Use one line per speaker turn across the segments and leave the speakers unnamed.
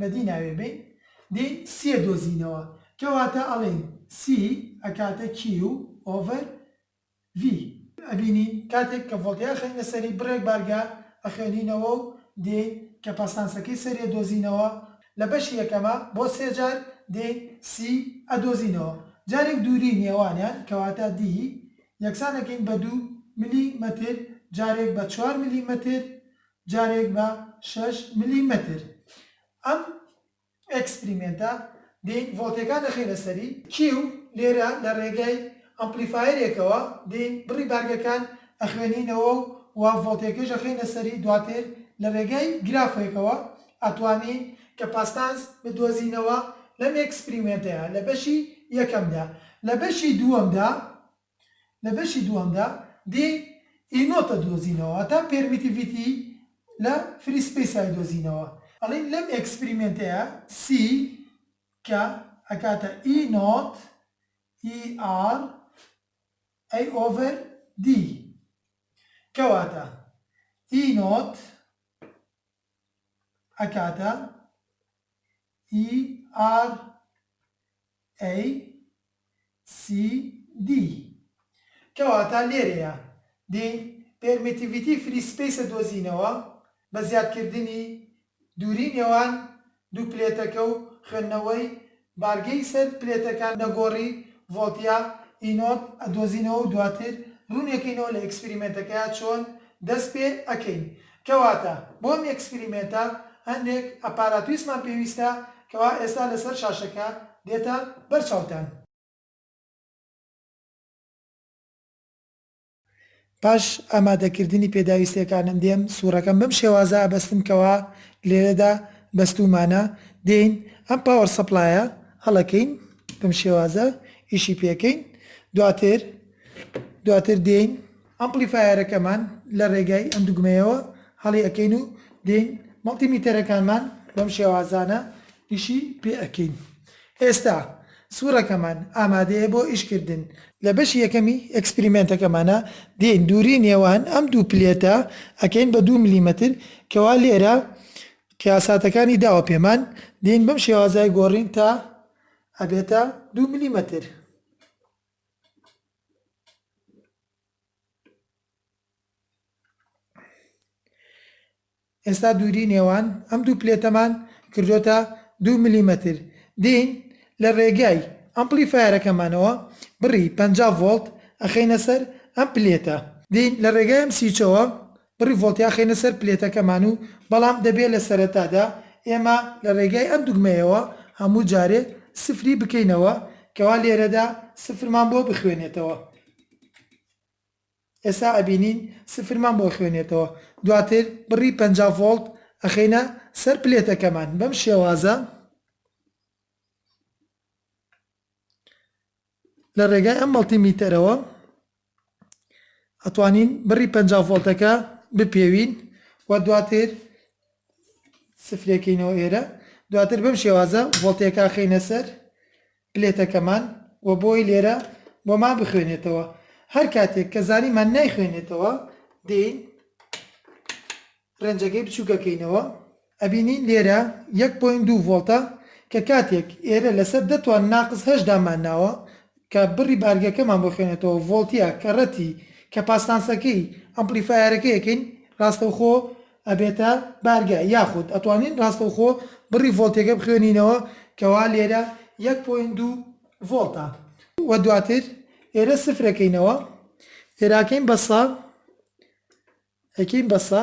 بەدی ناوێ بین دین سیە دۆزینەوە کەواتە ئەڵێین سی ئەکاتە کیو ئۆڤەر ڤی. ئەبینین کاتێک کە ڤۆڵتی ئەخەینە سەری بڕێک بارگە ئەخوێنینەوە و دێین کەپاسانسەکەی سەریە دۆزینەوە لە بەشی یەکەما بۆ سێ جار دێین سی ئەدۆزینەوە جارێک دووری نێوانیان کەواتە دی یەکسان ئەکەین بە دوو ملی مەتر جارێک بە چوار ملی مەتر جارێک بە شەش ملیمەتر. ئەم ئێکسپریمێنتە دەین ڤۆڵتێکان دەخەینە سەری. کیو، لێرە لە ڕێگای ئەمپلیفایەرێکەوە دەین بڕی بارگەکان ئەخوێنینەوە و وە ڤۆڵتێکەش ئەخەینە سەری دواتر لە ڕێگای گرافێکەوە ئەتوانین کەپاستانس بدۆزینەوە لەم ئێکسپریمێنتەیا لە بەشی یەکەمدا لە بەشی دووەمدا لە بەشی دووەمدا دی ئی نۆت ئەدۆزینەوە واتا پێرمیتیڤیتی لە فری سپەیس ئایدۆزینەوە ئەڵێین لەم ئێکسپریمێنتەیا سی کە ئەکاتە ئی نۆت ئی ئاڕ ئەی ئۆڤەر دی کەواتە ئی نۆت ئەکاتە ERACD کەواتە لێرەیە دێین پێرمیتیڤیتی فری سپەیسە دۆزینەوە بە زیادکردنی دووری نێوان دوو پلێتەکە و خوێندنەوەی بارگەی سەر پلێتەکان نەگۆڕی ڤۆڵتیا ئی نۆت ئەدۆزینەوە و دواتر ڕوونی ئەکەینەوە لە ئێکسپریمێنتەکەیا چۆن دەست پێ ئەکەین کەواتە بۆ ئەم ئێکسپریمێنتە هەندێک ئەپاراتویسمان پێویستە کەوا ئێستا لەسەر شاشەکە دێتە بەر چاوتان. پاش ئامادەکردنی پێداویستیەکانم دێم سوڕەکەم بەم شێوازە ئەبەستم کەوا لێرەدا بەستومانە دێین ئەم پاوەر سەپلایە هەڵەکەین بەم شێوازە ئیشی پێکەین دواتر دواتر دێین ئەمپلیفایەرەکەمان لە رێگای ئەم دوگمەیەوە هەڵی ئەکەین و دێین مەڵتی میتەرەکانمان بەم شێوازانە ئیشی پێ ئەکەین ئێستا سورەکەمان ئامادەیە بۆ ئیش کردن. لە بەشی یەکەمی ئێکسپریمێنتەکەمانا دێین دووری نێوان ئەم دوو پلێتە ئەکەین بە دوو ملیمەتر کەوا لێرە قیاساتەکانی داوە پێمان دێین بەم شێوازای گۆڕین تا ئەبێتە دوو ملیمەتر. ئێستا دووری نێوان ئەم دوو پلێتەمان کردۆتە دوو ملیمەتر دێین لە ڕێگای ئەمپلیفایەرەکەمانەوە بڕی پەنجا ڤۆڵت ئەخەینە سەر ئەم پلێتە دێین لە ڕێگای ئەم سویچەوە بڕی ڤۆڵتیان خەینە سەر پلێتەکەمان و بەڵام دەبێ لە سەرەتادا ئێمە لە ڕێگای ئەم دوگمەیەوە هەموو جارێ سفری بکەینەوە کەوا لێرەدا سفرمان بۆ بخوێنێتەوە ئێسا ئەبینین سفرمان بۆ خوێنێتەوە دواتر بڕی پەنجا ڤۆڵت ئەخەینە سەر پلێتەکەمان بەم شێوازە لە ڕێگای ئەم مەڵتی میتەرەوە ئەتوانین بڕی پەنجا ڤۆڵتەکە بپێوین و دواتر سفرێکەینەوە ئێرە دواتر بەم شێوازە ڤۆڵتێکا خینە سەر پلێتەکەمان و بۆی لێرە بۆمان بخوێنێتەوە هەر کاتێک کە زانیمان نایخوێنێتەوە دێین ڕێنجەکەی بچووکەکەینەوە ئەبینین لێرە یەک پۆینت دوو ڤۆڵتە کە کاتێک ئێرە لەسەر دە توان ناقس هەشت دامان ناوە کە بڕی بارگەکەمان بۆ خوێنێتەوە ڤۆڵتیە کە ڕەتی کەپاسناسەکەی ئەمپلیفایەرەکە یەکەین ڕاستەوخۆ ئەبێتە بارگە یاخود ئەتوانین ڕاستەوخۆ بڕی ڤۆڵتیەکە بخوێنینەوە کەوا لێرە یەک پۆینت دوو ڤۆڵتە وە دواتر ئێرە سفرەکەینەوە ئێرە ئەکەین بە سە ئەکەین بە سە.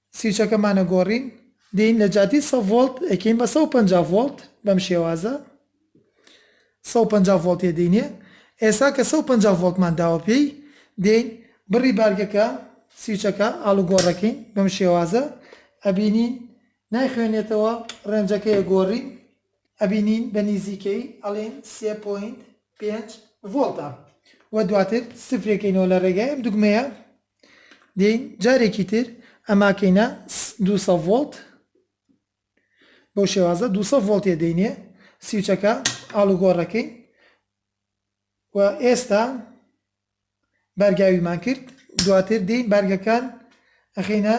سویچەکەمان ئەگۆڕین دێین لە جادی سە ڤۆڵت ئەکەین بە سەد و پەنجا ڤۆڵت بەم شێوازە سەد و پەنجا ڤۆڵت ێ دینێ ئێسا کە سەد و پەنجا ڤۆڵتمان داوە پێی دێین بڕی بارگەکە سویچەکە ئاڵوگۆڕەکەین بەم شێوازە ئەبینین نایخوێنێتەوە ڕێنجەکەی ئەگۆڕین ئەبینین بە نیزیکەی ئەڵێن سێ پۆینت پێنج ڤۆڵتە وە دواتر سفرێکەینەوە لە ڕێگای ئەم دوگمەیە دێین جارێکی تر ئەماکەینە دوو سەد ڤۆڵت بەو شێوازە دوو سەد ڤۆڵت تێ دەینێ سیوچەکە ئاڵوگۆڕەکەی و ئێستا بارگاویمان کرد دواتر دێین بارگەکان ئەخینە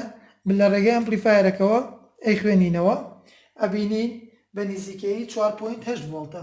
لە ڕێگەی ئەمپلیفایەرەکەوە ئەی خوێنینەوە ئەبینین بە نزیکەی 4.8 ڤۆڵتە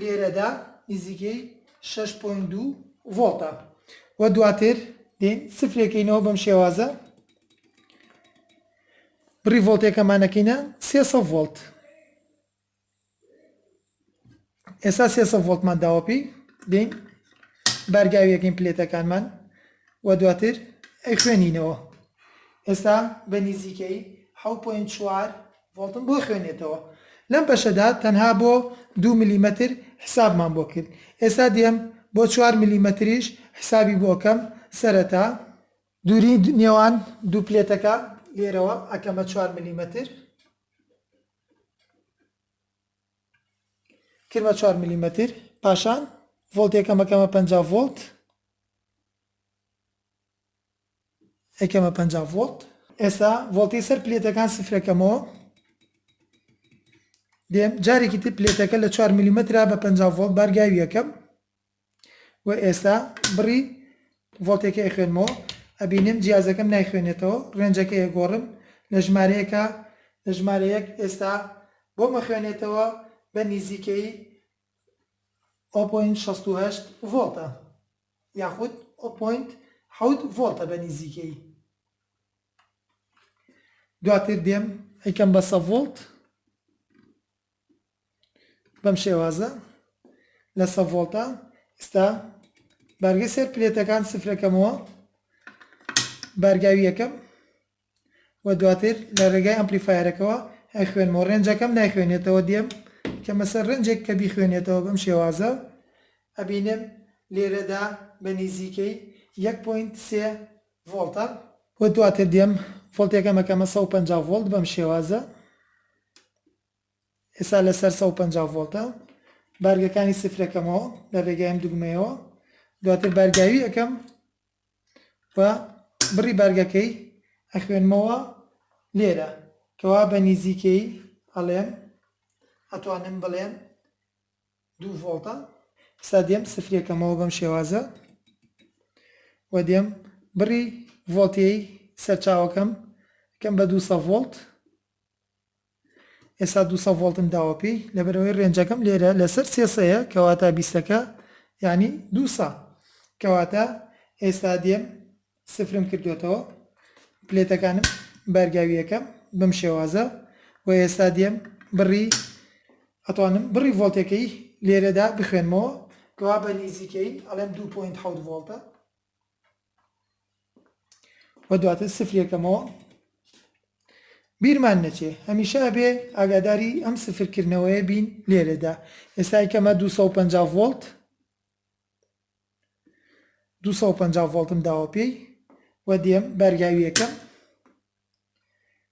لێرەدا نزیکەی شەش پۆینت دوو ڤۆڵتە و دواتر دێین سفرێکەینەوە بەم شێوازە بڕی ڤۆڵتێکەمانەکەینە سێ ڤۆلت ئێستا سێ ڤۆلتمان داوە پێی دێین بارگاویەکەین پلێتەکانمان و دواتر ئەی خوێنینەوە ئێستا بە نزیکەی 6.4 ڤۆڵتم بۆ خوێنێتەوە لەم بەشەدا تەنها بۆ دوو ملیمەتر حسابمان بۆ کرد ئێستا دێم بۆ چوار ملیمەتریش حسابی بۆ ئەکەم سەرەتا دووری نێوان دوو پلێتەکە لێرەوە ئەکەمە چوار ملیمەتر کردمە چوار ملیمەتر پاشان ڤۆڵتێکەمەکەمە پەنجا ڤۆڵت ئەیکەمە پەنجا ڤۆڵت. ئێستا ڤۆڵتی سەر پلێتەکان سفرەکەمەوە دێم جارێکی تر پلێتەکە لە چوار ملیمەترا بە پەنجا ڤۆڵت بارگاوی یەکەم و ئێستا بڕی ڤۆڵتێکی ئەیخوێنمەوە ئەبینم جیازەکەم نایخوێنێتەوە ڕێنجەکە ئێگۆڕم لە ژمارەیەکە لە ژمارە یەک ئێستا بۆمە خوێنێتەوە بە نیزیکەی ئەو پۆینت شەست و هەشت ڤۆڵتە یاخود ئەو پۆینت حەوت ڤۆڵتە بە نیزیکەی. دواتر دێم ئەیکەم بە سە ڤۆڵت بەم شێوازە لە سە ڤۆڵتە ئستا بارگە سەر پلێتەکان سفرەکەمەوە بارگاویەکەم و دواتر لە رێگای ئەمپلیفایەرەکەوە ئەخوێنمەوە رێنجەکەم نایخوێنێتەوە دێم کەمە سەر رێنجێک کە بیخوێنێتەوە بەم شێوازە ئەبینم لێرەدا بە نیزیکەی یەک پۆینت سێ ڤۆڵتە و دواتر دێم ڤۆڵتێکەم ئەکەمە سەد و پەنجا ڤۆڵت بەم شێوازە ئێستا لەسەر سەد و پەنجا ڤۆڵتە بارگەکانی سفرەکەمەوە لە رێگای ئەم دوگمەیەوە دواتر بارگاوی ئەەکەم و بڕی بارگەکەی ئەخوێنمەوە لێرە کەوا بە نیزیکەیی ئەڵێم ئەتوانم بڵێم دوو ڤۆڵتە ئستا دێم سفرێکەمەوە بەم شێوازە و دێم بڕی ڤۆڵتیەی سەرچاوەکەم کەم بە دوو سە ڤۆڵت ئێستا دوو سەد ڤۆڵتم داوە پێی لەبەرئەوەی رێنجەکەم لێرە لەسەر سێ سەیە کەواتە بیستەکە یانی دوو سە کەواتە ئێستا دێم سفرم کردوێتەوە پلێتەکانم بارگاویەکەم بەم شێوازە و ئێستا دێم بڕی ئەتوانم بڕی ڤۆلتەکەی لێرەدا بخوێنمەوە کەوا بە نیزیکەی ئەڵێم دوو پۆینت حەوت ڤۆڵتە و دواتر سفری یەکەمەوە بیرمان نەچێ هەمیشە ئەبێ ئاگاداری ئەم سفرکردنەوەیە بین لێرەدا ئێستا یکەمە 250 ڤۆلت 250 ڤۆلتم داوە پێی و دێم بەرگاویەکەم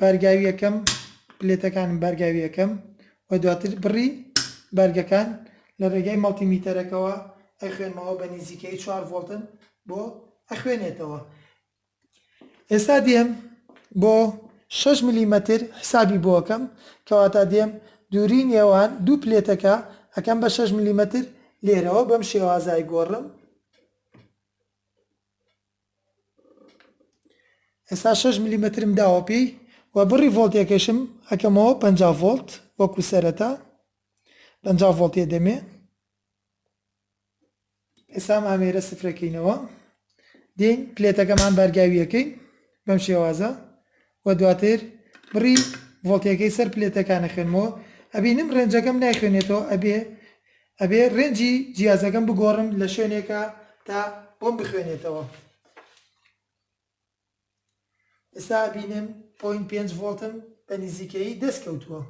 بارگاوی یەکەم پلێتەکانم بارگاوی یەکەم و دواتر بڕی بارگەکان لە ڕێگای مەڵتی میتەرەکەوە ئەخوێنمەوە بە نیزیکەی چوار ڤۆڵتن بۆ ئەخوێنێتەوە ئێستا دێم بۆ شەش ملیمەتر حسابی بۆ ئەکەم کەواتە دێم دووری نێوان دوو پلێتەکە ئەکەم بە شەش ملیمەتر لێرەوە بەم شێوازای گۆڕم ئێستا شەش ملیمەترم داوە پێی و بڕی ڤۆڵتێکەشم ئەکەمەوە پەنجا ڤۆڵت وەکو سەرەتا پەنجا ڤۆڵتێ دەمێ ئێستا ئەم ئامێرە سفرەکەینەوە دێین پلێتەکەمان بارگاویەکەین بەم شێوازە و دواتر بڕی ڤۆڵتەیەکەی سەر پلێتەکان ئەخوێنمەوە ئەبینم ڕێنجەکەم نایخوێنێتەوە ئەبێ ئەبێ ڕێنجی جیازەکەم بگۆڕم لە شوێنێکا تا بۆم بخوێنێتەوە ئێستا ئەبینم پۆین پێنج ڤۆڵتم بە نزیکەیی دەست کەوتووە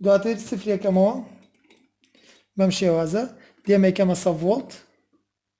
دواتر سفرێکەمەوە بەم شێوازە دێمەکەمە سە ڤۆڵت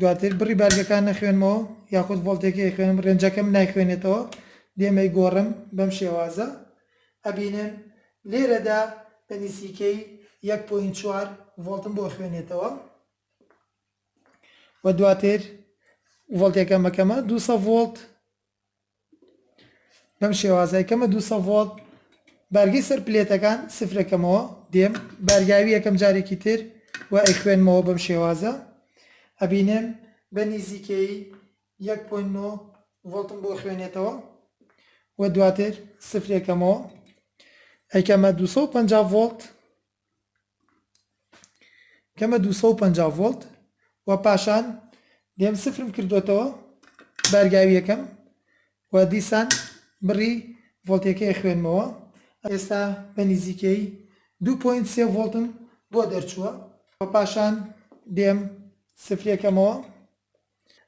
دواتر بڕی بارگەکان نەخوێنمەوە یاخود ڤۆڵتێکی ئەیخوێنم رێنجەکەم نایخوێنێتەوە دێم ئەیگۆڕم بەم شێوازە ئەبینن لێرەدا بە نزیکەی یەک پۆینت چوار ڤۆڵتم بۆ ئەخوێنێتەوە و دواتر ڤۆڵتێکەم ئەکەمە دوو سەد ڤۆڵت. بەم شێوازە ئەکەمە دوو سە ڤۆڵت بارگەی سەر پلێتەکان سفرەکەمەوە دێم بارگاوی یەکەم جارێکی تر و ئەیخوێنمەوە بەم شێوازە ئەبینێم بە نزیکەی 1.9 ڤۆڵتم بۆ خوێنێتەوە و دواتر سفرێکەمەوە ئەیکەمە 250 ڤۆڵت کەمە دوو سەد و پەنجا ڤۆڵت و پاشان دێم سفرم کردوەتەوە بارگاویەکەم و دیسان بڕی ڤۆڵتەکەی خوێنمەوە ئێستا بە نزیکەی دوو پۆینت سێ ڤۆڵتم بۆ دەرچووە و پاشان دێم سفرێکەمەوە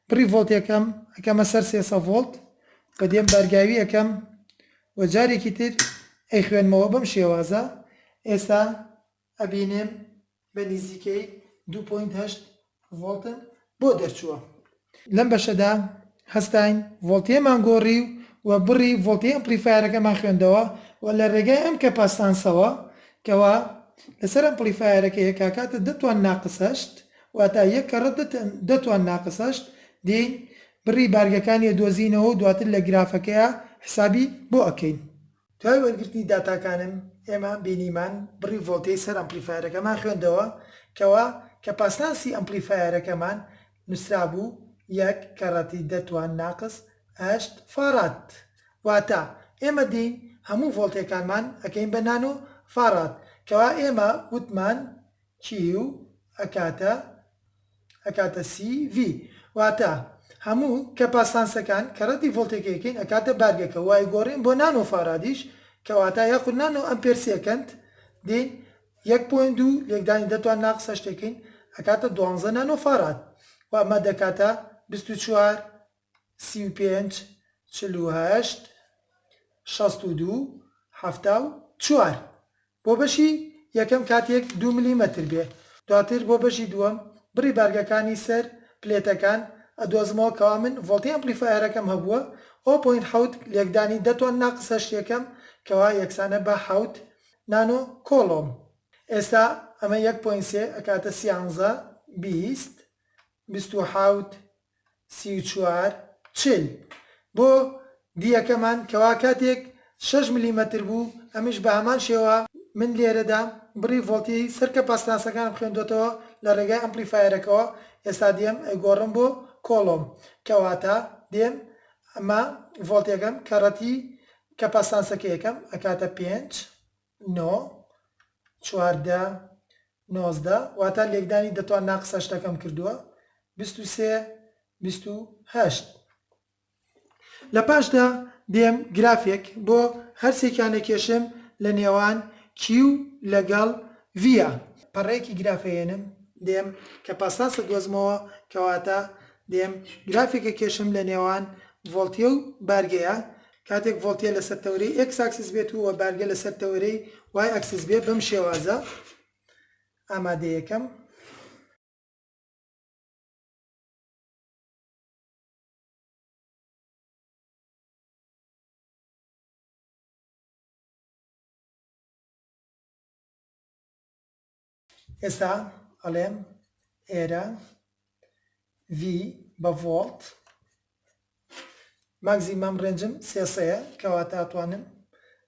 بڕی ڤۆڵتێکەم ئەکەمە سەر سێ سە ڤۆڵت و دێم بارگاوی ئەکەم و جارێکی تر ئەیخوێنمەوە بەم شێوازە ئێستا ئەبینێم بە نیزیکەی دوو پۆینت هەشت ڤۆڵتم بۆ دەرچووە. لەم بەشەدا هەستاین ڤۆڵتێمان گۆڕی و بڕی ڤۆڵتێ ئەمپڵیفایەرەکەمان خوێندەوە و لە رێگای ئەم کەپاسانسەوە کەوا لەسەر ئەمپڵیفایەرەکە یەکاکاتە دە توان ناقس هەشت واتا یەک کەڕە دە توان ناقسەشت دێین بڕی بارگەکانی ئەدۆزینەوە و دواتر لە گرافەکەیا حسابی بۆ ئەکەین. دوای وەرگرتنی داتاکانم ئێمە بینیمان بڕی ڤۆڵتەی سەر ئەمپلیفایەرەکەمان خوێندەوە کەوا کەپاسنانسی ئەمپلیفایەرەکەمان نوسرابوو یەک کەڕەتی دە توان ناقس هەشت فاڕاد واتا ئێمە دێین هەموو ڤۆڵتەکانمان ئەکەین بە نانۆ فاڕاد کەوا ئێمە وتمان کیو، ئەکاتە، ئەکاتە سی، ڤی. واتە، هەموو، کەپاسانسەکان، کە ڕەدی ڤۆڵتێکە یەکەین ئەکاتە بارگەکە و ئەیگۆڕین بۆ نانۆ فارادیش، کەواتە یاخود نانۆ ئەمپێر سێکەند، دێین یەک پۆینت دوو لێکدانی دە توان ناقس هەشت یەکەین ئەکاتە دوانزە نانۆ فاراد و ئەمە دەکاتە بیست و چوار سی و پێنج چل و هەشت شەست و دوو حەفتا و چوار بۆ بەشی یەکەم کاتێک دوو ملیمەتر بێ دواتر بۆ بەشی دووەم بڕی بارگەکانی سەر پلێتەکان ئەدۆزمەوە کەوا من ڤۆڵتی ئەمپلیفایەرەکەم هەبووە ئەوە پۆینت حەوت لێکدانی دە تۆن ناقس هەشت یەکەم کەوا یەکسانە بە حەوت نانۆ کۆڵۆم ئێستا ئەمە یەک پۆینت سێ ئەکاتە سیانزە بیست بیست و حەوت سی و چوار چل بۆ دیەکەمان کەوا کاتێک شەش ملیمەتر بوو ئەمیش بە هەمان شێوە من لێرەدا بڕی ڤۆڵتیی سەر کەپاسیتانسەکانم خوێندۆتەوە لە ڕێگای ئەمپلیفایەرەکەوە ئێستا دێم ئەیگۆڕم بۆ کۆڵۆم کەواتە دێم ئەمە ڤۆڵتێکەم کەڕەتی کەپاسیتانسەکەیەکەم ئەکاتە پێنج نۆ چواردە نۆزدە واتا لێکدانی دەتوان ناقس هەشتەکەم کردووە بیست و سێ بیست و هەشت. لە پاشدا دێم گرافێک بۆ هەرسێکیان ئەکێشم لە نێوان کیو لەگەڵ ڤیا. پەڕەیەکی گراف ئەهێنم دێم کە پاساس ئەدۆزمەوە کەواتە دێم گرافێک ئەکێشم لە نێوان ڤۆڵتیە و بارگەیە کاتێک ڤۆڵتیە لەسەر تەوەرەی ئێکس ئاکسس بێت و وە بارگە لەسەر تەوەرەی وای ئاکسس بێ بەم شێوازە ئامادە یەکەم. ئێستا ئەڵێم ئێرە V بە ڤۆڵت ماکزیمەم ڕێنجم سێ سەیە کەواتە ئەتوانم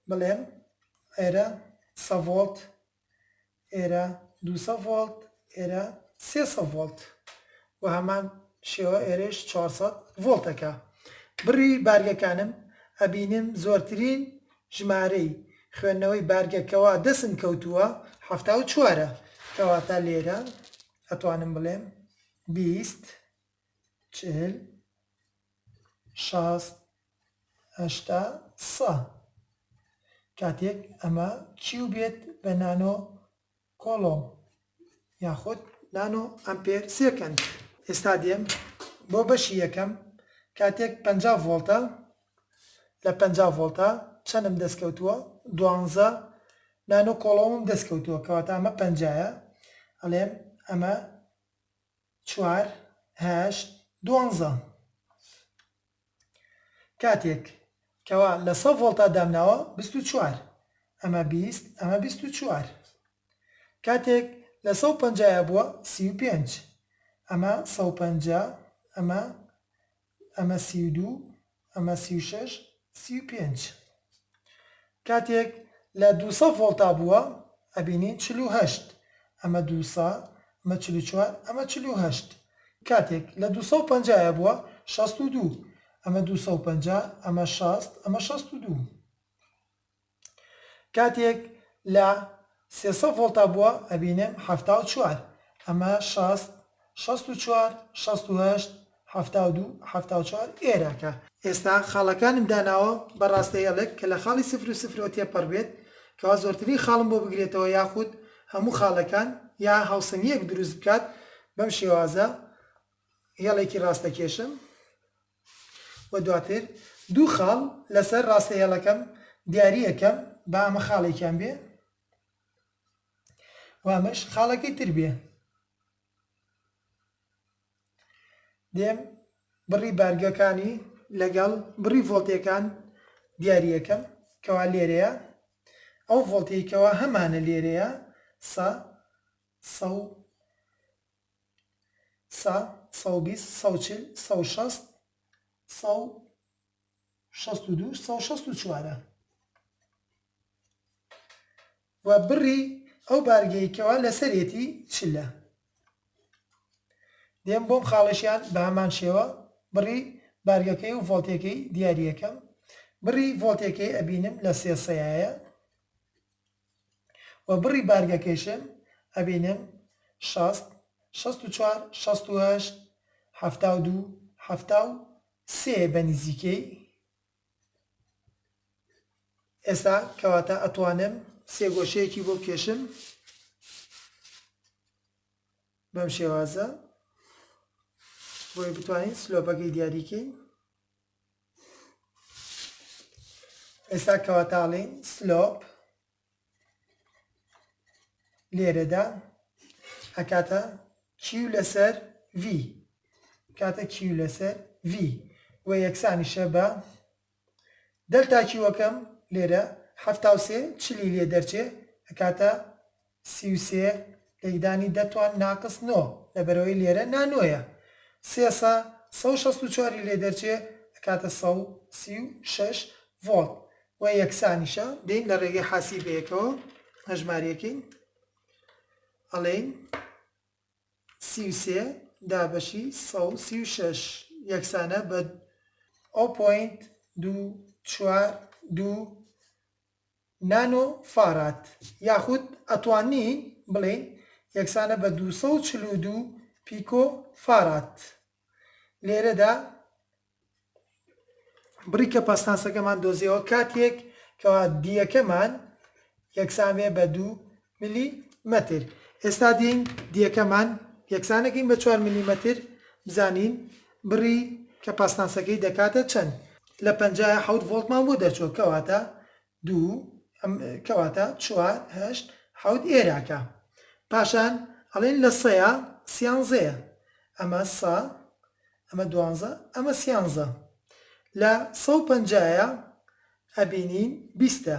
بڵێم ئێرە سە ڤۆڵت ئێرە دوو سە ڤۆڵت ئێرە سێ سە ڤۆڵت و هەمان شێوە ئێرەش 400 ڤۆڵتەکە بڕی بارگەکانم ئەبینم زۆرترین ژمارەی، خوێندنەوەی بارگە کەوا دەسم کەوتووە حەفتا و چوارە کەواتە لێرە ئەتوانم بڵێم بیست چل شەست هەشتا سە کاتێک ئەمە کیو بێت بە نانۆ کۆڵۆم یاخود نانۆ ئەمپێر سێکەند. ئێستا دێم بۆ بەشی یەکەم کاتێک پەنجا ڤۆڵتە لە پەنجا ڤۆڵتە چەنم دەست کەوتووە دوانزە نانۆ کۆڵۆمم دەست کەوتووە کەواتە ئەمە پەنجایە ئەڵێم ئەمە چوار هەشت دوانزە کاتێک کەوا لە سە ڤۆڵتا دامناوە بیست و چوار ئەمە بیست ئەمە بیست و چوار کاتێک لە سە و پەنجا یا بووە سی و پێنج ئەمە سە و پەنجا ئەمە ئەمە سی و دوو ئەمە سی و شەش سی و پێنج. کاتێک لە دووسە ڤۆڵتا بووە ئەبینین چل و هەشت ئەمە دووسە ئەمە چل و چوار ئەمە چل و هەشت کاتێک لە دووسە و پەنجا یە بووە شەست و دوو ئەمە دووسە و پەنجا ئەمە شەست ئەمە شەست و دوو کاتێک لە سێ سەد ڤۆڵتا بووە ئەبینم حەفتا و چوار ئەمە شەست شەست و چوار شەست و هەشت حەفتا و دوو حەفتا و چوار ئێرە کە. ئێستا خاڵەکانم داناوە بە ڕاستە هێڵێک کە لە خاڵی سفر و سفرەوە تێپەڕ بێت کەوا زۆرترین خاڵم بۆ بگرێتەوە یاخود هەموو خاڵەکان یا هاوسنگیەک دروست بکات بەم شێوازە هێڵێکی ڕاستەکێشم و دواتر دوو خاڵ لەسەر ڕاستە هێڵەکەم دیاری ئەکەم با ئەمە خاڵێکیان بێ و ئەمەش خاڵەکەی تر بێ دێم بڕی بارگەکانی لەگەڵ بڕی ڤۆڵتەکان دیاری ئەکەم کەوا لێرەیە ئەو ڤۆڵتەی کەوا هەمانە لێرەیە سە سە و سە سەو بیست سەو چل سەو شەست سەو شەست و دوو سەو شەست و چوارە و بڕی ئەو بارگەی کەوا لەسەرێتی چلە دێم بۆم خاڵشیان بە هەمان شێوە بڕی بارگەکەی و ڤۆلتێکەی دیارریەکەم بڕی ڤۆلتێکەی ئەبینم لە سێسەیە و بڕی بارگەکەیشم ئەبینم شەست شەست و چوار شەست و هەشت حەفتا و دوو حەفتا و سێ بە نیزیکەی ئێستا کەواتە ئەتوانم سێ گۆشەیەکی بۆ بکێشم بەم شێوازە بۆی بتوانین سلۆپەکەی دیاریکەین ئێستا کەواتە ئەڵێین سلۆپ لێرەدا ئەکاتە کیو لەسەر V کاتە کیو لەسەر V و یەکسانیشە بە دەلتا کیوەکەم لێرە هەفتا و سێ چلی لێ دەرچێ ئەکاتە سی و سێ، لێکدانی دە توان ناقس نۆ، لەبەرئەوەی لێرە نا نۆیە، سێ سە، سە و شەست و چوار ی لێ دەرچێ ئەکاتە سە و سی و شەش ڤۆڵت و یەکسانیشە. دێین لە ڕێگەی حاسیبەیەکەوە هەژماریەکەین، ئەڵێین سی و سێ دابەشی سە و سی و شەش یەکسانە بە ئەو پۆینت دوو چوار دوو نانۆ فاراد یاخود ئەتوانین بڵێین یەکسانە بە دوو سەد و چل و دوو پیکۆ فاراد. لێرەدا بڕی کەپاسناسەکەمان دۆزیەوە کاتێک کە دیەکەمان یەکسان بێ بە دوو ملی مەتر، ئێستا دێین دیەکەمان یەکسانەکەین بە چوار ملی مەتر بزانین بڕی کەپاسناسەکەی دەکاتە چەند لە پەنجا ە حەوت ڤۆڵتمان بۆ دەرچووە کەواتە دوو ئەم کەواتە چوار هەشت حەوت ئێراکە پاشان ئەڵێن لە سەیا سیانزەیە ئەمە سە ئەمە دوانزە ئەمە سیانزە لە سەو پەنجا ە ئەبینین بیستە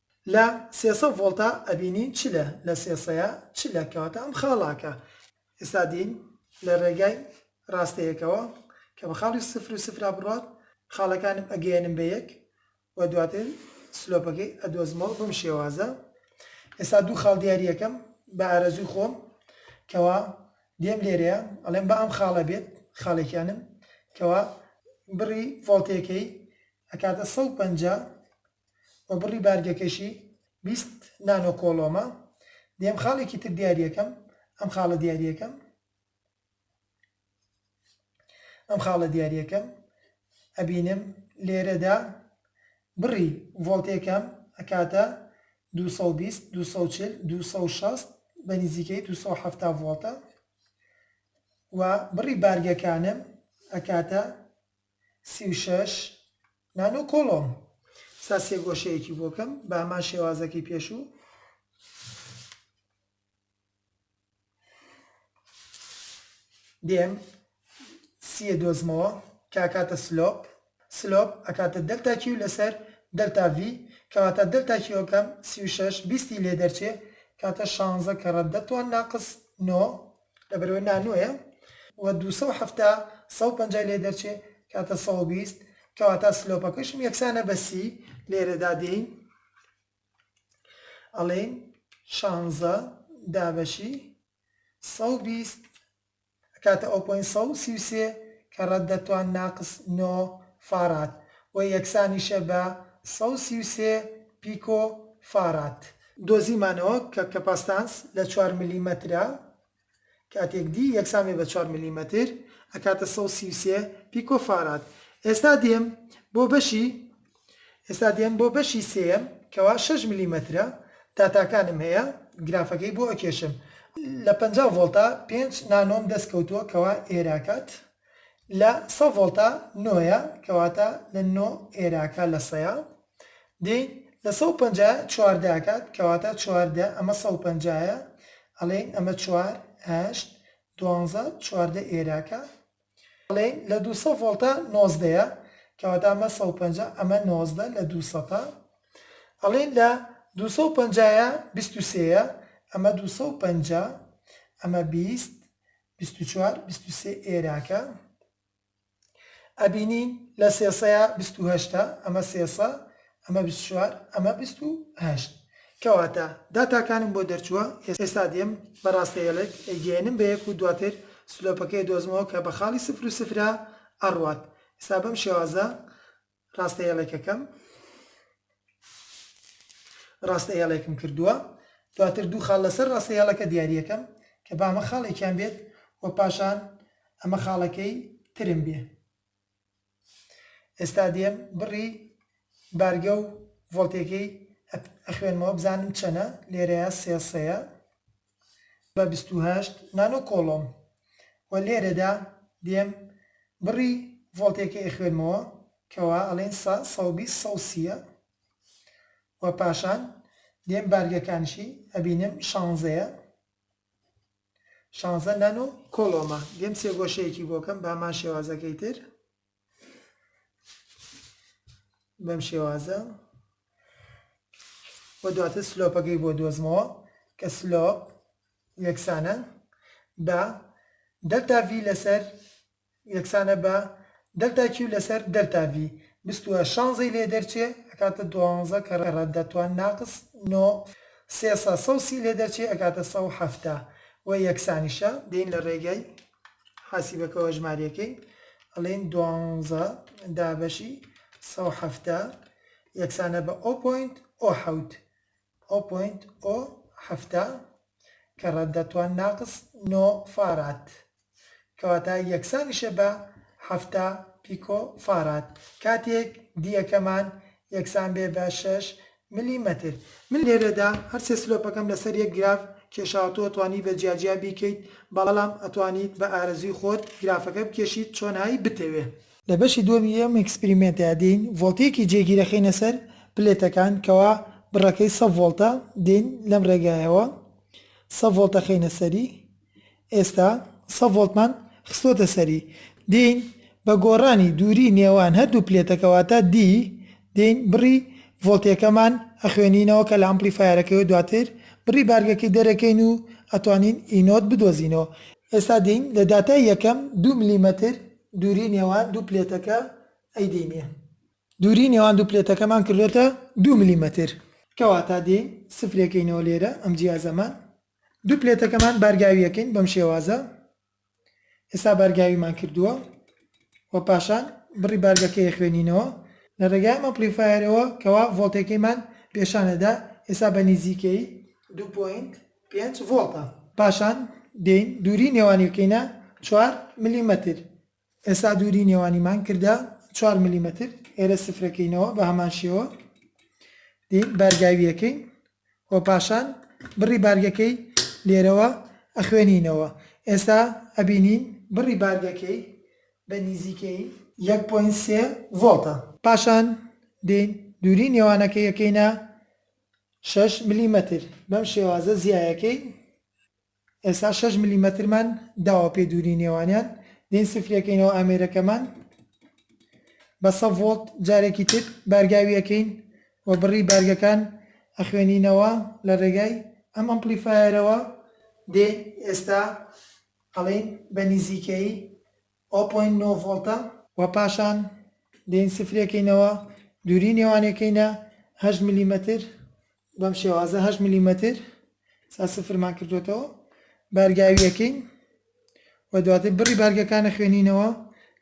لە سێسە ڤۆڵتا ئەبینی چ لە لە سێسەیە چ لە کەواتە ئەم خاڵاکە ئێستا دین لە رێگای راستەیەکەوە کە بە خاڵی سفر و سفرا بڕوات خاڵەکانم ئەگەیەنم بە یەک و دواتر سلۆپەکەی ئەدۆزمەوە بەم شێوازە ئێستا دوو خاڵ دیاریەکەم بە ئارەزوی خۆم کەوا دێم لێرەیە ئەڵێم بە ئەم خاڵە بێت خاڵێکیانم کەوا بڕی ڤۆڵتێکەی ئەکاتە سەد و پەنجا و بڕی بارگەکەشی بیست نانۆ کۆڵۆمە، دەیەم خاڵێکی تر دیاری ئەکەم، ئەم خاڵە دیاری ئەکەم، ئەم خاڵە دیاری ئەکەم، ئەبینم لێرەدا بڕی ڤۆڵتێکەم ئەکاتە دوو سەد و بیست، دوو سەد و چل، دوو سەد و شەست بە نزیکەی دوو سەد و حەفتا ڤۆڵتە و بڕی بارگەکانم ئەکاتە سی و شەش، نان و کۆڵۆم. سا سێ گۆشەیەکی بۆ کەم، بە هەمان شێوازەکەی پێشوو. دێم سیە دۆزمەوە کە ئەکاتە سلۆپ، سلۆپ ئەکاتە دەلتا کیو لەسەر دەلتا ڤی، کەواتە دەلتا کیوەکەم سی و شەش بیستی لێ دەرچێ کاتە شانزە کەڕە دە توان ناقس نۆ، لەبەرئەوەی نانۆیە و دوو سەد و حەفتا سەد و پەنجا ی لێ دەرچێ کاتە سەد و بیست کەواتا سلۆپەکەشم یەکسانە بە سی لێرەدا دێین ئەڵێین شانزە دابەشی سەد و بیست ئەکاتە ئەو پۆینت سەد و سی و سێ کە ڕەد دەتوان ناقس نۆ فاراد و یەکسانیشە بە سەد و سی و سێ پیکۆ فاراد دۆزیمانەوە کە کەپاستانس لە چوار ملیمەترە کاتێک دی یەکسان بێ بە چوار ملیمەتر ئەکاتە سەد و سی و سێ پیکۆ فاراد ئێستا دێم بۆ بەشی ئێستا دێم بۆ بەشی سێیەم کەوا شەش ملیمەترە داتاکانم هەیە گرافەکەی بۆ ئەکێشم لە پەنجا ڤۆڵتا پێنج نانۆم دەست کەوتووە کەوا ئێراکات لە سەد ڤۆڵتا نۆیە کەواتە لە نۆ ئێراکە لە سەیە دەی لە سەد و پەنجا چوار داکات کەواتە چوار دە ئەمە سەد و پەنجا یە ئەڵێین ئەمە چوار هەشت دوانزە چواردە ئێراکە ئەڵێین لە دوو سەد ڤۆڵتە نۆزدە یە کەواتە ئەمە سەد و پەنجا ئەمە نۆزدە لە دوو سەتە ئەڵێین لە دوو سەد و پەنجا یە بیست و سێ یە ئەمە دوو سەد و پەنجا ئەمە بیست بیست و چوار بیست و سێ ئێراکە ئەبینین لە سێسەیا بیست و هەشتە ئەمە سێسە ئەمە بیست و چوار ئەمە بیست و هەشت کەواتە داتاکانم بۆ دەرچووە ئێستا دێم بە ڕاستەیەڵێک ئەیگەیەنم بە یەک و دواتر سلۆپەکەی ئەدۆزمەوە کە بە خاڵی سفر و سفرە ئەڕوات ئێستا بەم شێوازە ڕاستە هێڵێکەکەم ڕاستە هێڵێکم کردووە دواتر دوو خاڵ لەسەر ڕاستە هێڵەکە دیاریەکەم کە با ئەمە خاڵێکیان بێت و پاشان ئەمە خاڵەکەی ترم بێ ئێستا دێم بڕی بارگە و ڤۆلتێکەی ئەخوێنمەوە بزانم چەنە لێرەیە سێسەیە بە بیست و هەشت نانۆ کۆڵۆم وە لێرەدا دێم بڕی ڤۆڵتێکەی ئەخوێنمەوە کەوا ئەڵێن سە سە و بیست سە و سیە وە پاشان دێم بارگەکانشی ئەبینم شانزەیە شانزە نانۆ کۆڵۆمە دێم سێگۆشەیەکی بۆکەم بەهەمان شێوازەکەی تر بەم شێوازە و دواتر سلۆپەکەی بۆ دۆزمەوە کە سلۆپ یەکسانە بە دەلتا ڤی لەسەر یەکسانە بە دەلتا کیو لەسەر دەلتا ڤی بستووە شانزەی لێ دەرچێ ئەکاتە دوانزە کە ڕێڕەت دەتوان ناقس نۆ سێسە سەوسی لێ دەرچێ ئەکاتە سەو حەفتا و یەکسانیشە دێین لە ڕێگای حاسیبەکەوە ژماریەکەی ئەڵێین دوانزە دابەشی سەد و حەفتا یەکسانە بە ئۆ پۆینت ئۆ حەوت ئۆ پۆینت ئۆ حەفتا کە ڕەددە توان ناقس نۆ فاراد کەواتە یەکسانیشە بە حەفتا پیکۆ فاراد کاتێک دیەکەمان یەکسان بێ بە شەش ملی مەتر، من لێرەدا هەر سێ سلۆپەکەم لەسەر یەک گراف کێشاوە تۆ ئەتوانی بە جیا جیا بیکەیت بەڵام ئەتوانیت بە ئارەزوی خۆت گرافەکە بکێشیت چۆن هایی بتەوێ. لە بەشی دووەمی ئەم ئێکسپریمێنتەیا دێین ڤۆڵتەیەکی جێگیر ئەخەینە سەر پلێتەکان کەوا بڕەکەی سە ڤۆڵتە دێین لەم ڕێگایەوە سە ڤۆڵت ئەخەینە سەری ئێستا سە ڤۆڵتمان خستۆتە سەری دێین بە گۆڕانی دووری نێوان هەردوو پلێتەکە واتە D دێین بڕی ڤۆڵتێکەمان ئەخوێنینەوە کە لە ئەمپلیفایەرەکەی و دواتر بڕی بارگەکەی دەرەکەین و ئەتوانین ئی نۆت بدۆزینەوە. ئێستا دێین لە داتای یەکەم دوو ملیمەتر دووری نێوان دوو پلێتەکە ئەیدێینە دووری نێوان دوو پلێتەکەمان کردۆتە دوو ملیمەتر کەواتە دێین سفرێکەینەوە لێرە ئەم جیازەمان. دوو پلێتەکەمان بارگاوی ئەکەین بەم شێوازە ئێستا بارگاویمان کردووە و پاشان بڕی بارگەکەی ئەخوێنینەوە لە ڕێگای ئەم ئەمپلیفایەرەوە کەوا ڤۆڵتێکەیمان پێشان ئەدا ئێستا بە نیزیکەیی دوو پۆینت پێنج ڤۆڵتە پاشان دێین دووری نێوانی بکەینە چوار ملیمەتر ئێستا دووری نێوانیمان کردە چوار ملیمەتر، ئێرە سفرەکەینەوە بە هەمان شێوە دێین بارگاوییەکەین و پاشان بڕی بارگەکەی لێرەوە ئەخوێنینەوە، ئێستا ئەبینین بڕی بارگەکەی بە نیزیکەی. یەک پۆینت سێ ڤۆڵتە. پاشان دێین دووری نێوانەکەی ئەکەینە شەش ملیمەتر، بەم شێوازە زیایەکەی ئێستا شەش ملیمەترمان داوە پێ دووری نێوانیان دێین سفرەکەینەوە ئامێرەکەمان بە سە ڤۆڵت جارێکی تر بارگاوی ئەکەین و بڕی بارگەکان ئەخوێنینەوە لە ڕێگای ئەم ئەمپڵیفایەرەوە دێین ئێستا ئەڵێین بە نیزیکەیی ئەو پۆینت نۆ ڤۆڵتە. وە پاشان دێین سفرێکەینەوە دووری نێوانێکەینە هەشت ملیمەتر بەم شێوازە هەشت ملیمەتر سا سفرمان کردوێتەوە بارگاویەکەین و دواتر بڕی بارگەکانە خوێنینەوە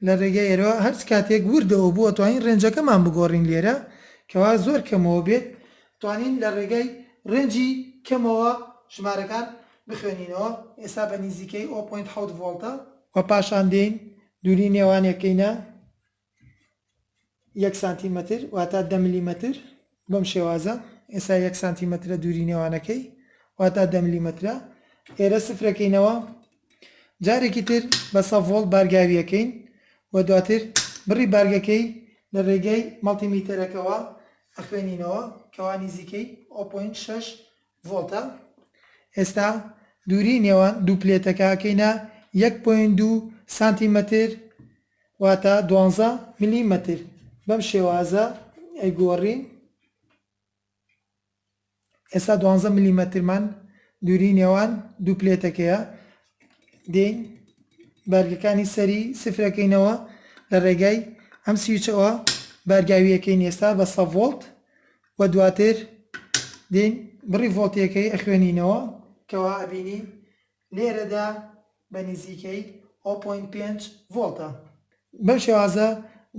لە ڕێگەی ئێرەوە هەرچ کاتێک وردەوە بووە توانین ڕێنجەکەمان بگۆڕین لێرە کەوا زۆر کەمەوە بێت توانین لە ڕێگەی ڕێنجی کەمەوە ژمارەکان بخوێنینەوە ئێستا بە نیزیکەی ئۆ پۆینت حەوت ڤۆڵتە. وە پاشان دێین دووری نێوان ەکەینە یەک سانتیمەتر واتا دە ملیمەتر بەم شێوازە ئێسا یەک سانتیمەترە دووری نێوانەکەی واتا دە ملیمەترە ئێرە سفرەکەینەوە جارێکی تر بە سە ڤۆڵت بارگاویەکەین و دواتر بڕی بارگەکەی لە ڕێگەی مەڵتیمیتەرەکەوە ئەخوێنینەوە کەوا نیزیکەی ئۆ پۆینت شەش ڤۆڵتە، ئێستا دووریی نێوان دوو پلێتەکە ئەکەینە یەک پۆینت دوو سانتیمەتر واتە دوانزە مللیمەتر، بەم شێوازە ئەیگۆڕین، ئێستا دوانزە مللیمەترمان دووریی نێوان دوو پلێتەکەیە، دێین بارگەکانی سەری سفر ئەکەینەوە لە ڕێگای ئەم سویچەوە بارگاوی ئەکەین ئێستا بە سەد ڤۆڵت وە دواتر دێین بڕی ڤۆڵتیەکەی ئەخوێنینەوە کەوا ئەبینین لێرەدا بە نزیکەی هۆ پۆینت پێنج ڤۆڵتە بەم شێوازە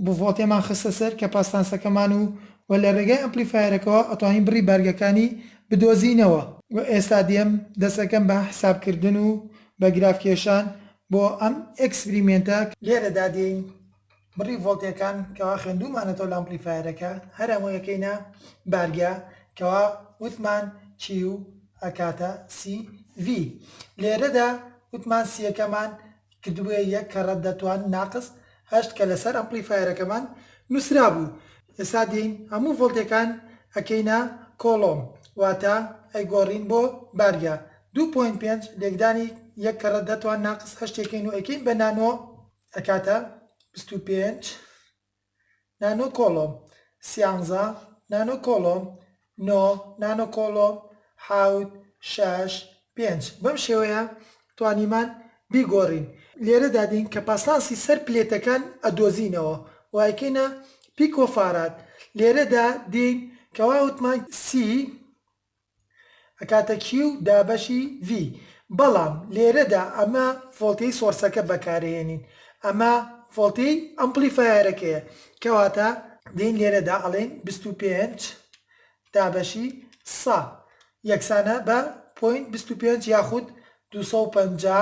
بۆ ڤۆڵتێمان خستە سەر کەپاستانسەکەمان و وە لە رێگای ئەمپلیفایەرەکەوە ئەتوانین بڕی بارگەکانی بدۆزینەوە. وە ئێستا دێم دەسەکەم بە حساب کردن و بە گراف کێشان بۆ ئەم ئێکسپریمێنتە، لێرەدا دێین بڕی ڤۆڵتەکان کەوا خوێندوومانەتەوە لە ئەمپڵیفایەرەکە هەر هەمووی ئەکەینە بارگە کەوا وتمان کیو ئەکاتە سی ڤی لێرەدا وتمان سیەکەمان کردبووە یەک کە ڕەت دەتوان ناقس هەشت کە لەسەر ئەمپڵیفایەرەکەمان نووسرابوو ئێستا دێین هەموو ڤۆڵتەکان ئەکەینە کۆڵۆم واتە ئەیگۆڕین بۆ بارگە دوو پۆینت پێنج لێکدانی یەک کە ڕەت دەتوان ناقس هەشت ئەکەین و ئەکەین بە نانۆ ئەکاتە بیست و پێنج نانۆ کۆڵۆم سیانزە نانۆ کۆڵۆم نۆ نانۆ کۆڵۆم حەوت شەش پێنج بەم شێوەیە توانیمان بیگۆڕین لێرەدا دێین کەپاسانسی سەر پلێتەکان ئەدۆزینەوە وایکەینە پیکۆفاراد لێرەدا دێین کەوا وتمان سی ئەکاتە کیو دابەشی ڤی بەڵام لێرەدا ئەمە ڤۆڵتێی سۆرسەکە بەکارەیەنین ئەمە ڤۆڵتێی ئەمپلیفایەرەکەیە کەواتە دێین لێرەدا ئەڵێین بیست و پێنج دابەشی سە یەکسانە بە پۆینت بیست و پێنج یاخود دوو سەد و پەنجا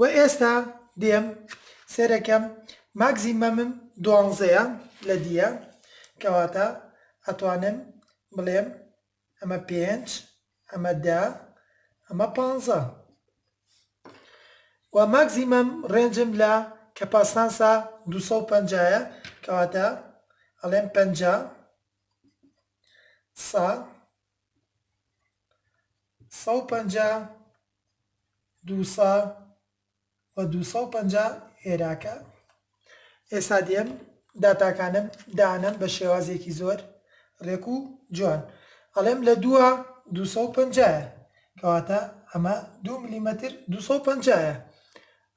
وە ئێستا دێم سێرەکەم ماکزیمەمم دوانزەیە لە دیە کەواتە ئەتوانم بڵێم ئەمە پێنج ئەمە دە ئەمە پانزە وە ماکزیمەم ڕێنجم لە کەپاسنانسا دوو سەد و پەنجا یە کەواتە ئەڵێم پەنجا سە سەد و پەنجا دوو سە و دوو سەو پەنجا هێراکە ئێستا دێم داتاکانم دانەم بە شێوازێکی زۆر ڕێک و جوان ئەڵێم لە دووە دوو سەو پەنجایە کەواتە ئەمە دوو ملیمەتر دوو سەو پەنجایە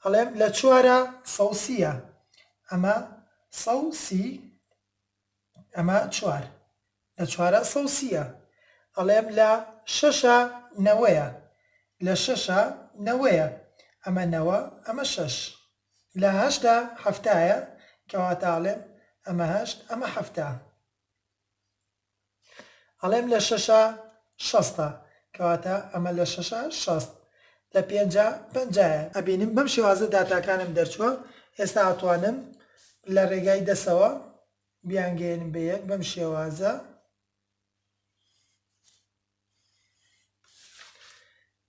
ئەڵێم لە چوارە سەو سیە ئەمە سەو سی ئەمە چوار لە چوارە سەو سیە ئەڵێم لە شەشە نەوەیە لە شەشە نەوەیە ئەمە نەوە ئەمە شەش لە هەشتە حەفتایە کەواتە ئەڵێم ئەمە هەشت ئەمە حەفتا. ئەڵێم لە شەشا شەستە کەواتە ئەمە لە شەشا شەست لە پێنجا پەنجایە. ئەبینم بەم شێوازە داتاکانم دەرچووە ئێستا ئەتوانم لە ڕێگای دەسەوە بیانگەیەنم بە یەک بەم شێوازە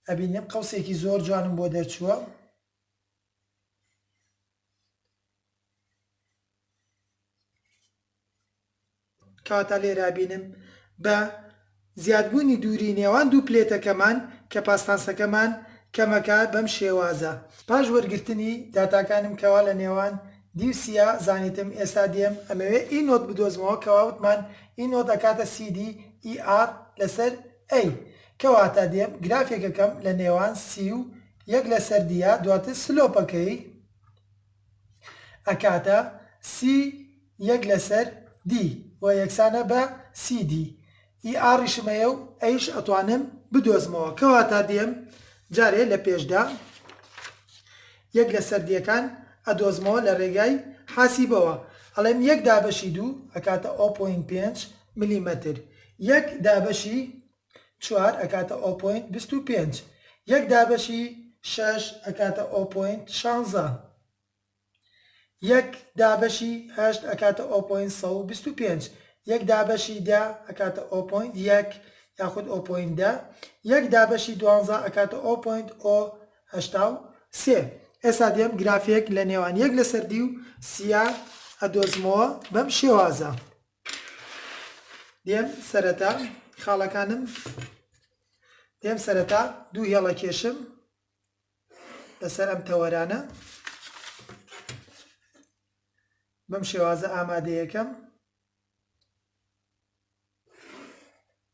ئەبینم قەوسێکی زۆر جوانم بۆ دەرچووە کەواتە لێرە ئەبینم بە زیادبوونی دووری نێوان دوو پلێتەکەمان کەپاسناسەکەمان کەمەکە بەم شێوازە. پاش وەرگرتنی داتاکانم کەوا لە نێوان دی و سیە زانیتم ئێستا دێم ئەمەوێ ئی نۆت بدۆزمەوە کەوا وتمان ئی نۆت ئەکاتە سی دی ئی ئاڕ لەسەر ئەی کەواتە دێم گرافێکەکەم لە نێوان سی و یەک لەسەر دیە دواتر سلۆپەکەی ئەکاتە سی یەک لەسەر دی و یەکسانە بە سی دی ئی ئاڕیشم هەیە و ئەیش ئەتوانم بدۆزمەوە کەواتا دێم جارێ لە پێشدا یەک لەسەر دیەکان ئەدۆزمەوە لە رێگای حاسیبەوە ئەڵێم یەک دابەشی دوو ئەکاتە ئەو پۆینت پێنج ملیمەتر یەک دابەشی چوار ئەکاتە ئۆپۆینت بیست و پێنج یەک دابەشی شەش ئەکاتە ئۆپۆینت شانزە یەک دابەشی هەشت ئەکاتە ئۆپۆینت سەد و بیست و پێنج یەک دابەشی دە ئەکاتە ئۆپۆینت یەک یاخود ئۆپۆینت دە یەک دابەشی دوانزە ئەکاتە ئۆپۆینت ئۆ هەشتا و سێ ئێستا دێم گرافێک لە نێوان یەک لەسەر دی و سیا ئەدۆزمەوە بەم شێوازە. دێم سەرەتا خاڵەکانم دێم سەرەتا دوو هێڵە کێشم لەسەر ئەم تەوەرانە بەم شێوازە ئامادەیەکەم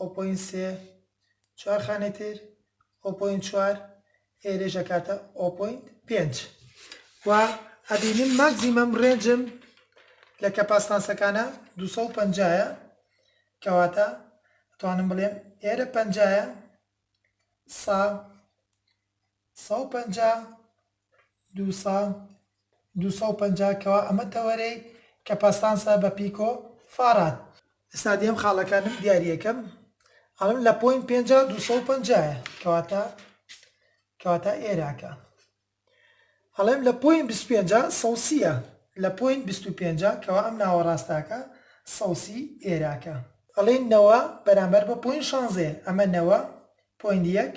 ئۆپۆین سێ، چوار خانەی تر، ئۆپۆین چوار، ئێرەیش ئەکاتە ئۆپۆین پێنج. وە ئەبینین ماکزیمەم ڕێنجم لە کەپاستانسەکانە دوو سەد و پەنجا یە، کەواتە ئەتوانم بڵێم ئێرە پەنجا یە، سا، سەد و پەنجا، دوو سەد دوو سەد و پەنجا کەوا ئەمە تەوەرەی کە پەستانسە بە پیک و فاراد. ئێستا دێم خاڵەکانم دیاریەکەم ئەڵێم لە پۆینت پێنجا دوو سەد و پەنجا یە کەواتە کەواتە ئێراکە ئەڵێم لە پۆینت بیست و پێنجا سەد سی یە لە پۆینت بیست و پێنجا کەوا ئەم ناوەڕاستاکە سەد سی ئێراکە ئەڵێن نەوە بەرامبەر بە پۆینت شانزە یە ئەمە نەوە پۆینت یەک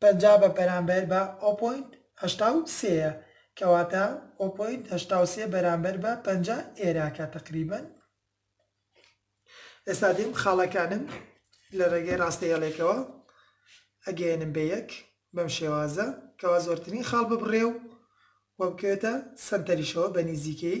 پەنجا بە بەرامبەر بە ئۆ پۆینت هەشتا و سێ یە کەواتە ئۆ پۆینت هەشتا و سێ بەرامبەر بە پەنجا ئێرە کە تەقریبەن ئێستا دێم خاڵەکانم لە ڕێگەی ڕاستە هێڵێکەوە ئەگەیەنم بە یەک بەم شێوازە کەوا زۆرترین خاڵ ببڕێ و وە بکەوێتە سەنتەریشەوە بە نیزیکەی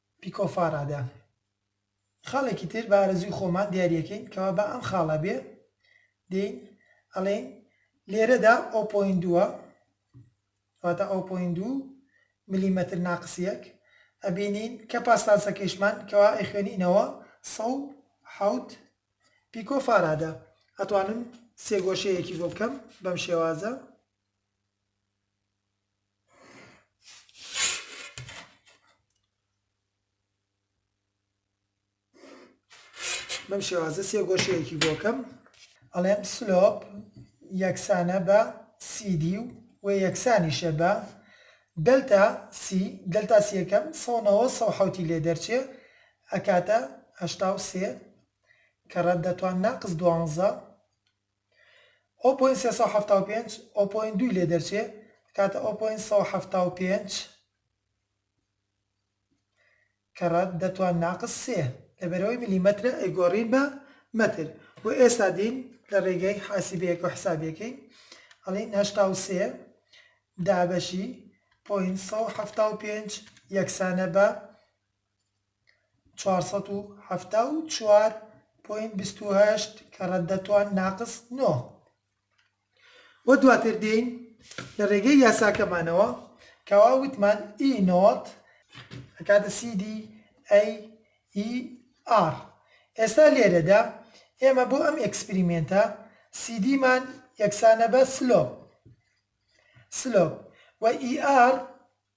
پیکۆفاڕادە خاڵێکی تر بە ئارەزووی خۆمان دیاریەکەین کەوا با ئەم خاڵە بێ دێین ئەڵێین لێرەدا ئەو پۆین دووە واتە ئەو پۆین دوو ملیمەتر ناقسیەک ئەبینین کە پاسلاسەکەیشمان کەوا ئەیخوێنینەوە سەد و حەوت پیکۆفاڕادە ئەتوانم سێگۆشەیەکی بۆ بکەم بەم شێوازە. بەم شێوازە سێ گۆشەیەکی بۆکەم ئەڵێم سلۆپ یەکسانە بە سیدی و و یەکسانیشە بە دەلتا سی دەلتا سیەکەم سەەوە سە حوتی لێ دەرچێ ئەکاتە هشتا و سێ کە ڕەت دەتوان ناقز دوانزە ئەو پۆینت سێ سەد و حەفتا و پێنج ئەو پۆینت دووی لێ دەرچێ ئەکاتە ئەو پۆینت سەد و حەفتا و پێنج کە ڕەد دەتوان ناقس سێ لەبەرەوەی ملیمەترە ئەیگۆڕین بە مەتر بۆ ئێستا دین لە ڕێگەی حاسیبەیەکەوە حسابی ئەکەین ئەڵێین هەشتا و سێ دابەشی پۆینت سەد و حەفتا و پێنج یەکسانە بە چوار سەد و حەفتا و چوار پۆینت بیست و هەشت کە ڕەددە توان ناقس نۆ. وە دواتر دێین لە ڕێگەی یاساکەمانەوە کە وا وتمان ئی نۆت ئەکاتە سی دی ئەی ئی ئاڕ. ئێستا لێرەدا ئێمە بۆ ئەم ئێکسپریمێنتە سی دیمان یەکسانە بە سلۆپ، Slope، و ئی ئاڕ،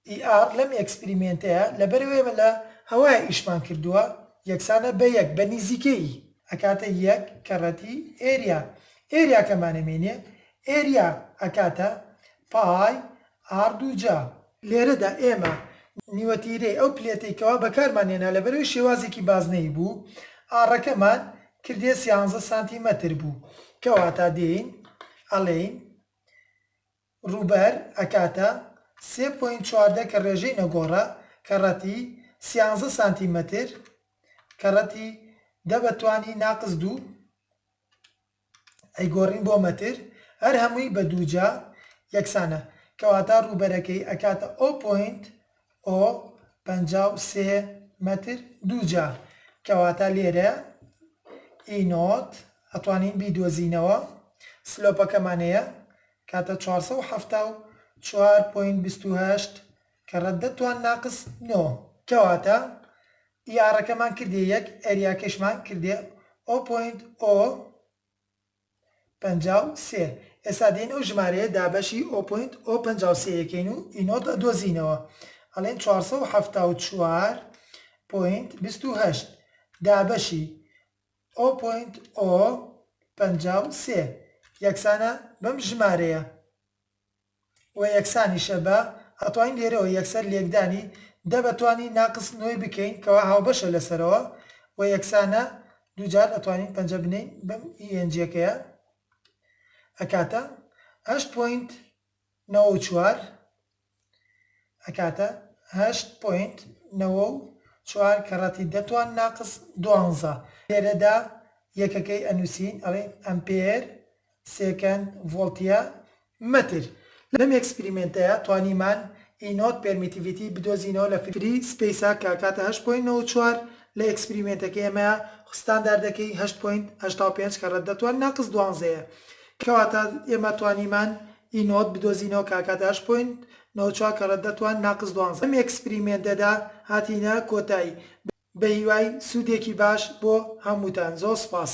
ئی ئار لەم ئێکسپریمێنتەیا لەبەرئەوەی ئێمە لە هەوایا ئیشمان کردووە یەکسانە بە یەک بە نیزیکەیی ئەکاتە یەک کەڕەتی ئێریا ئێریاکەمانە مێنێ ئێریا ئەکاتە پای ئار دووجا. لێرەدا ئێمە نیوەتیرەی ئەو پلێتەی کەوا بەکارمان هێنا لەبەرئەوەی شێوازێکی بازنەیی بوو ئاڕەکەمان کردیە سیانزە سانتیمەتر بوو کەواتا دێین ئەڵێین ڕووبەر ئەکاتە سێ پۆینت چواردە کە ڕێژەی نەگۆڕە کە ڕەتی سیانزە سانتی مەتر کە ڕەتی دە بە توانی ناقس دوو ئەیگۆڕین بۆ مەتر هەر هەمووی بە دووجا یەکسانە کەواتە ڕووبەرەکەی ئەکاتە ئۆ پۆینت ئۆ، پەنجا و سێ مەتر دووجا، کەواتە لێرە ئی نۆت ئەتوانین بیدۆزینەوە، سلۆپەکەمان هەیە کاتە چوار سەد و حەفتا و چوار پۆینت بیست و هەشت کە رەد دە توان ناقس نۆ، کەواتە ئی ئارەکەمان کردیە یەک، ئەریاکەشمان کردیە ئۆ پۆینت ئۆ، پەنجا و سێ، ئێستا دێین ئەو ژمارەیە دابەشی ئۆ پۆینت ئۆ پەنجا و سێ یەکەین و ئی نۆت ئەدۆزینەوە ئەڵێین چوار سەد و حەفتا و چوار پۆینت بیست و هەشت دابەشی ئۆ پۆینت ئۆ پەنجا و سێ یەکسانە بەم ژمارەیە. و یەکسانیشە بە، ئەتوانین لێرەوە یەکسەر لێکدانی، دە بە توانی ناقس نۆی بکەین کەوا هاوبەشە لە سەرەوە و یەکسانە دوو جار ئەتوانین پەنجە بنێین بەم ی ئێنجیەکەیە ئەکاتە هەشت پۆینت نەوە و چوار ئەکاتە هەشت پۆینت نەوە و چوار کە ڕەتی دە توان ناقس دوانزە لێرەدا یەکەکەی ئەنووسین ئەڵێین ئەمپێر سێکەند ڤۆڵتیە مەتر. لەم ئێکسپریمێنتەیا توانیمان ئی نۆت پێرمیتیڤیتی بدۆزینەوە لە فری سپەیسا کە ئەکاتە هەشت پۆینت نەوەد و چوار لە ئێکسپریمێنتەکەی ئێمەیا خو ستانداردەکەی هەشت پۆینت هەشتا و پێنج کە ڕەددە توان ناقس دوانزە یە کەواتە ئێمە توانیمان ئی نۆت بدۆزینەوە کە ئەکاتە هەشت پۆینت نەوەد و چوار کە ڕەددە توان ناقس دوانزە لەم ئێکسپریمێنتەدا هاتینە کۆتایی بەهیوای سودێکی باش بۆ هەموتان زۆر سوپاس.